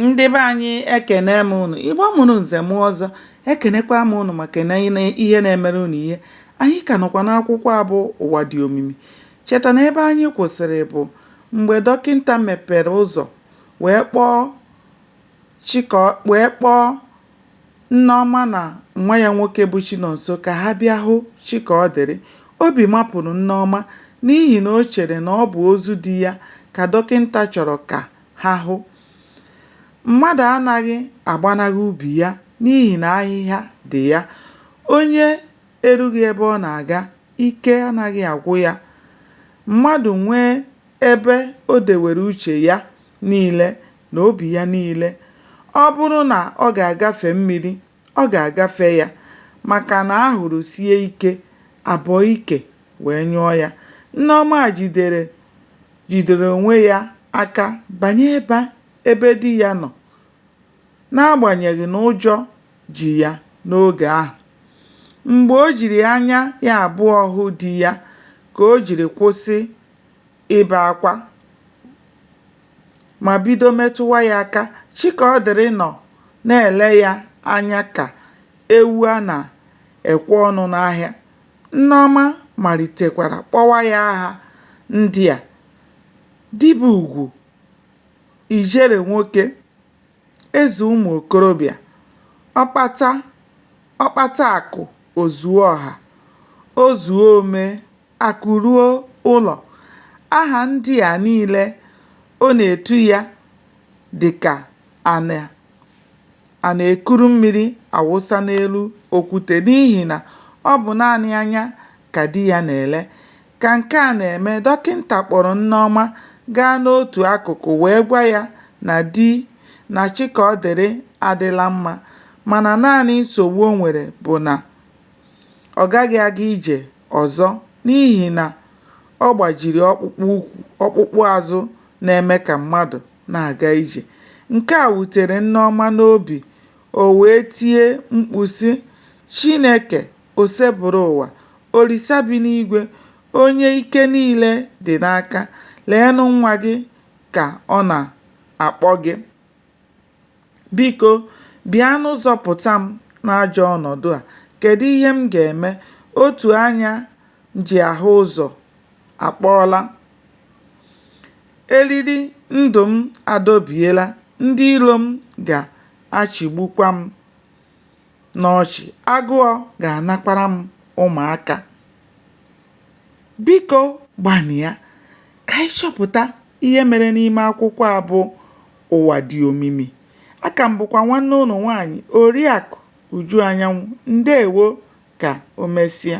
ndị be anyị ekene m ụnụ igbo mụrụ nze mụọ ọzọ ekenekwa m ụnụ maka na ihe na-emere ụnụ ihe anyị ka nọkwa n'akwụkwọ a bụ ụwa dị omimi cheta na ebe anyị kwụsịrị bụ mgbe dọkịnta mepere ụzọ wee kpọọ chika wee kpọọ nneọma na nwa ya nwoke bụ chinonso ka ha bịa hụ chikaọdịrị obi mapụrụ nneọma n'ihi na o chere na ọ bụ ozu di ya ka dọkịnta chọrọ ka ha hụ. Mmadụ anaghị agbanahụ ubi ya n'ihi na ahịhịa dị ya. Onye erughị ebe ọ na-aga, ike anaghị agwụ ya. Mmadụ nwee ebe o dewere uche ya niile na obi ya niile, ọ bụrụ na ọ ga-agafe mmiri ọ ga-agafe ya maka na ahụrụ sie ike, a bọọ ike wee nyụọ ya. Nneọma jidere jidere onwe ya aka banye ebe ebe di ya nọ n'agbanyeghị na ụjọ ji ya n'oge ahụ. Mgbe o jiri anya ya abụọ hụ di ya ka o jiri kwụsị ibe akwa ma bido metụwa ya aka. Chikaọdịrị nọ na-ele ya anya ka ewu a na-ekwe ọnụ n'ahịa. Nneọma malitekwara kpọwa ya aha ndị a, Di bụ ugwu, Ijere nwoke, Eze ụmụ okorobịa, Ọkpata akụ o zuo ọha, Ozuo omee. Akụ ruo ụlọ. Aha ndị a niile ọ na-etu ya dị ka a na a na-ekuru mmiri awụsa n'elu okwute n'ihi na ọ bụ naanị anya ka di ya na-ele. Ka nke a na-eme, dọkịnta kpọrọ Nneọma gaa n'otu akụkụ wee gwa ya na di na Chikaọdịrị adịla mma mana naanị nsogbu o nwere bụ na ọ gaghị aga ije ọzọ n'ihi na ọ gbajiri ọkpụkpụ ukwu ọkpụkpụ azụ na-eme ka mmadụ na-aga ije. Nke a wutere Nneọma n'obi, o wee tie mkpu sị, Chineke osebụrụ ụwa, Olisa bi n'igwe, onye ike niile dị n'aka, leenụ nwa gị ka ọ na-akpọ gị. Biko, bịanụ zọpụta m n'ajọ ọnọdụ a. Kedụ ihe m ga-eme? Otu anya m ji ahụ ụzọ akpọọla. Eriri ndụ m adọbiela. Ndị iro m ga-achịgbukwa m n'ọchị. Agụọ ga-anakwara m ụmụaka. Biko gbanịa ka anyị chọpụta ihe mere n'ime akwụkwọ a bụ ụwa dị omimi aka m bụkwa nwanne ụnụ nwaanyị oriakụ uju anyanwụ ndeewo ka o mesịa